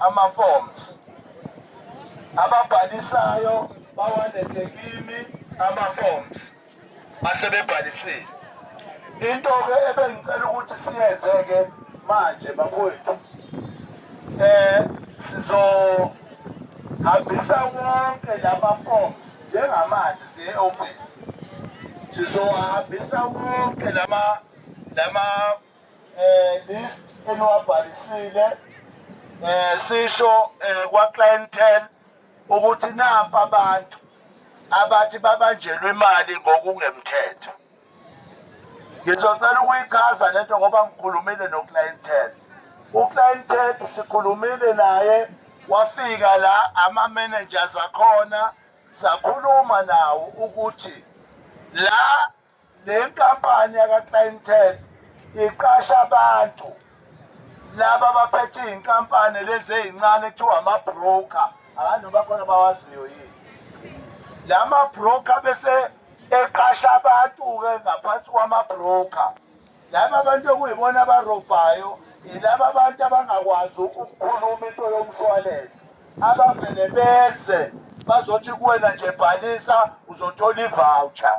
ama-forms ababhalisayo bawalethe kimi ama-forms asebebhalisile into-ke ebengicela ukuthi siyenze-ke manje bakwethu um eh, sizohambisa wonke lama-forms njengamanje siye-ofisi sizowahambisa wonke lama lama eh list eniwabhalisile eh sisho eh, kwa clientele ukuthi nampa abantu abathi babanjelwe imali ngokungemthetho ngizocela ukuyichaza lento ngoba ngikhulumile no clientele u clientele sikhulumile naye wafika la ama managers akhona sakhuluma nawo ukuthi la Le nkampani yakaClientele iqasha abantu laba abaphethe iy'nkampani lezi ey'ncane kuthiwa ama-broker angazi noma khona bawaziyo yini la ma-broker bese eqasha abantu-ke ngaphansi kwama-broker laba abantu okuyibona abarobhayo yilaba abantu abangakwazi ukukhuluma into yomshwalense abavele beze bazothi kuwena nje bhalisa uzothola ivoucher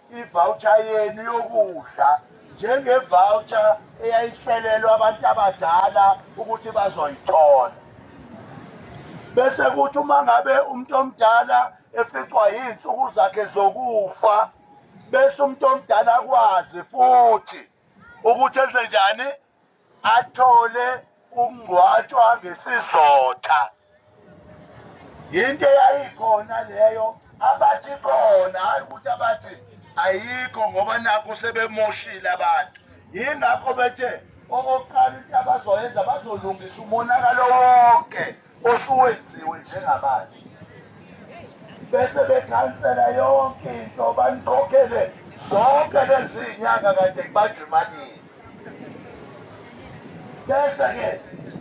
ivawutsha yenu yokudla njengevawutsha eyayihlelelwa abantu abadala ukuthi bazoyithola bese kuthi uma ngabe umuntu omdala eficwa yiy'nsuku zakhe zokufa bese umuntu omdala akwazi futhi ukuthi enze njani athole ukungcwatshwa ngesizotha yinto eyayikhona leyo abathi khona hayi ukuthi abathi ayikho ngoba nakho sebemoshile abantu yingakho bethe okokuqala into abazoyenza bazolungisa umonakalo wonke osuwenziwe njengamanje bese bekhansela yonke into banikokhele zonke lezi nyanga kade kubanjwa imanini bese-ke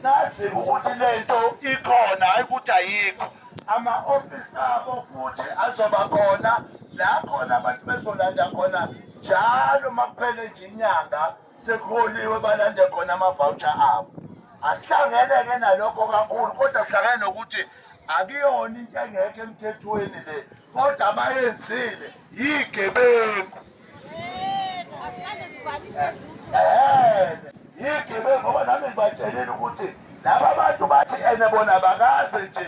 nazi ukuthi le nto ikhona hayi ukuthi ayikho ama-ofisi abo futhi azoba khona la khona abantu bezolanda khona njalo uma kuphele nje inyanga sekuholiwe balande khona amavoucher abo asihlangene-ke nalokho kakhulu kodwa sihlangene nokuthi akuyona into engekho emthethweni le kodwa abayenzile yigebengu yigebengu ngoba nami ngibatshelile ukuthi laba bantu bathi ene bona bakaze nje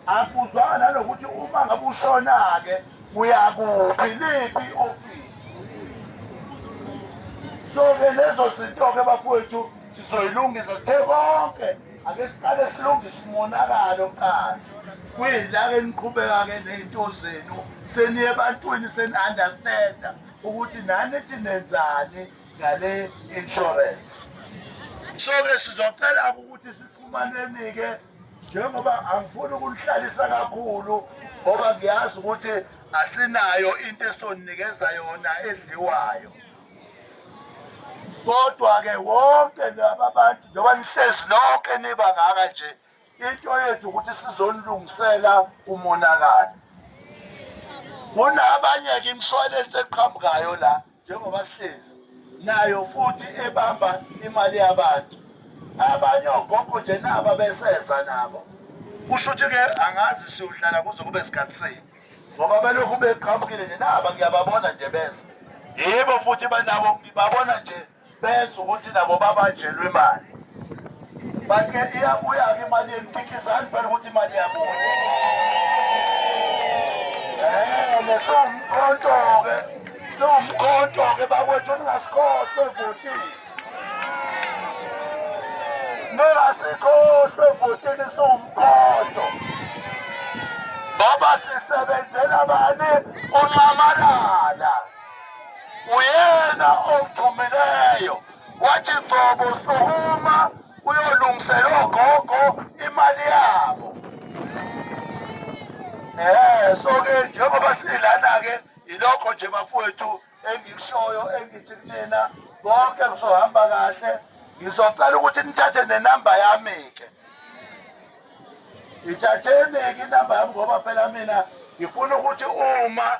Akuzwanga nanokuthi uma ngabe ushona-ke uyakuphi liphi ofisi so-ke lezo zinto-ke bafowethu sizoyilungisa sithe konke ake siqale silungise umonakalo kuqala kuyilake niqhubeka-ke ney'nto zenu seniye ebantwini seni-understanda ukuthi nani ethi nenzani ngale insurance so-ke sizocelaka ukuthi sixhumaneni-ke njengoba angifuni ukunihlalisa kakhulu ngoba ngiyazi ukuthi asinayo into esoninikeza yona edliwayo kodwa-ke wonke laba bantu njengoba nihlezi nonke niba ngaka nje into yethu ukuthi sizonilungisela umonakalo kunabanye-ke imishwalense eqhamukayo la njengoba sihlezi nayo futhi ebamba imali yabantu abanye ogogo nje naba beseza nabo kusho ukuthi ke angazi siyohlala kuze kube sikhathi sini ngoba belokhu beqhamukile nje naba ngiyababona nje beza yebo futhi banabo ngibabona nje bezwa ukuthi nabo babanjelwe imali but ke iyabuya-ke imali yenu phikisani phela ukuthi imali yabuya um eh, siwumkhonto-ke siwumkhonto-ke bakwethu ningasikhohlwe evotini ningasikhohlwe evotini siwumkhonto ngoba sisebenzela bani unxamalala uyena omvumileyo wathi qobo sukuma uyolungisela ogogo imali yabo eh so ke njengoba silana ke ilokho nje bafowethu engikushoyo engithi kunina konke kuzohamba kahle ngizocela ukuthi nithathe nenamba yami ke ithatheni ke inamba yami ngoba phela mina ngifuna ukuthi uma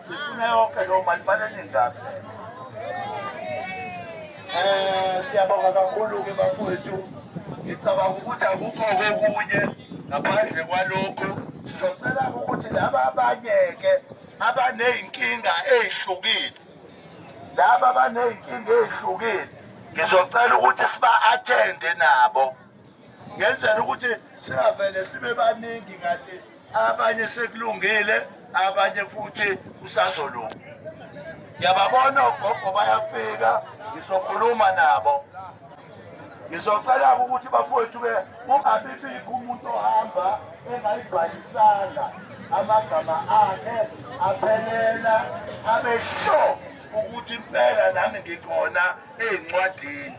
Sifuna yonke lo mali baneningi kabi. Eh siyabonga kakhulu ke bafowethu. Ngicabanga ukuthi akukho kokunye ngaphandle kwalokho sizocela ukuthi laba abanye ke abanezinkinga ezihlukile laba abanezinkinga ezihlukile ngizocela ukuthi siba attende nabo ngenzela ukuthi singavele sibe baningi kanti abanye sekulungile abanye futhi kusazolunga ngiyababona ogogo bayafika ngizokhuluma nabo ngizocela-ke ukuthi bafowethu-ke kungabibikho umuntu ohamba engayibhalisanga amagama akhe aphelela abe sure ukuthi impela nami ngikhona ey'ncwadini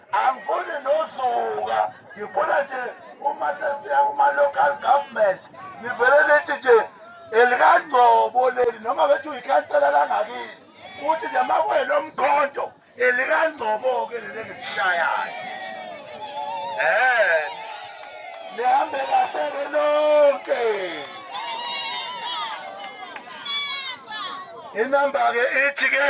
angifuni nosuka ngifuna nje uma sesiya kuma-local government ngivele lithi nje elikangcobo leli noma bethi uyikhansela langakini ukuthi nje makwena omkhonto elikangcobo-ke leli engilishayayo um nihambe kahleke nonke inamba-ke ithi-ke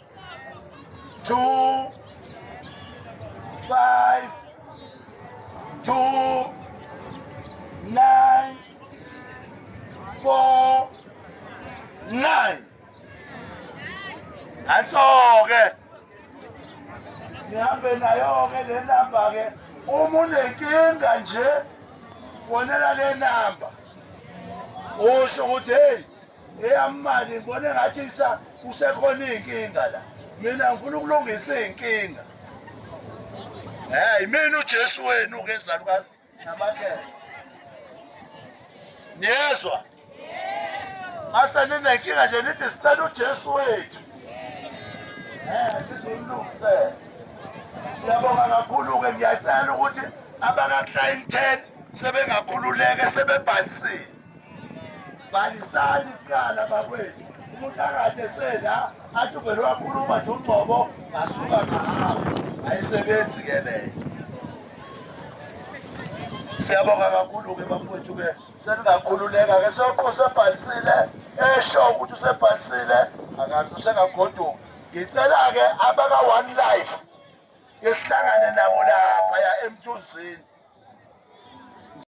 two, five, two, nine, four, nine. That's all, okay? nihambe nayo-ke le namba-ke uma unenkinga nje fonela le namba usho ukuthi heyi eyamani ngibone ngathi isa kusekhona iy'nkinga la mina ngifuna ukulungisa iy'nkinga heyi mina ujesu wenu ngezalukazi namakhela niyezwa mase ninenkinga nje nithi sicela ujesu wethu um ngizolungisela siyabonga kakhulu-ke ngiyacela ukuthi abaka-clienteni sebengakhululeke sebebhalisile bhalisani kuqala bakwethu umuntu akade sena athi uvele wakhuluma nje ungqobo ngasuka ngahawu ayisebenzi ke leyo siyabonga kakhulu-ke bafowethu-ke seningakhululeka ke sokho usebhalisile esho ukuthi usebhalisile akanti usengagoduka ngicela-ke abaka-one life ngesihlangane nabo laphaya emthunzini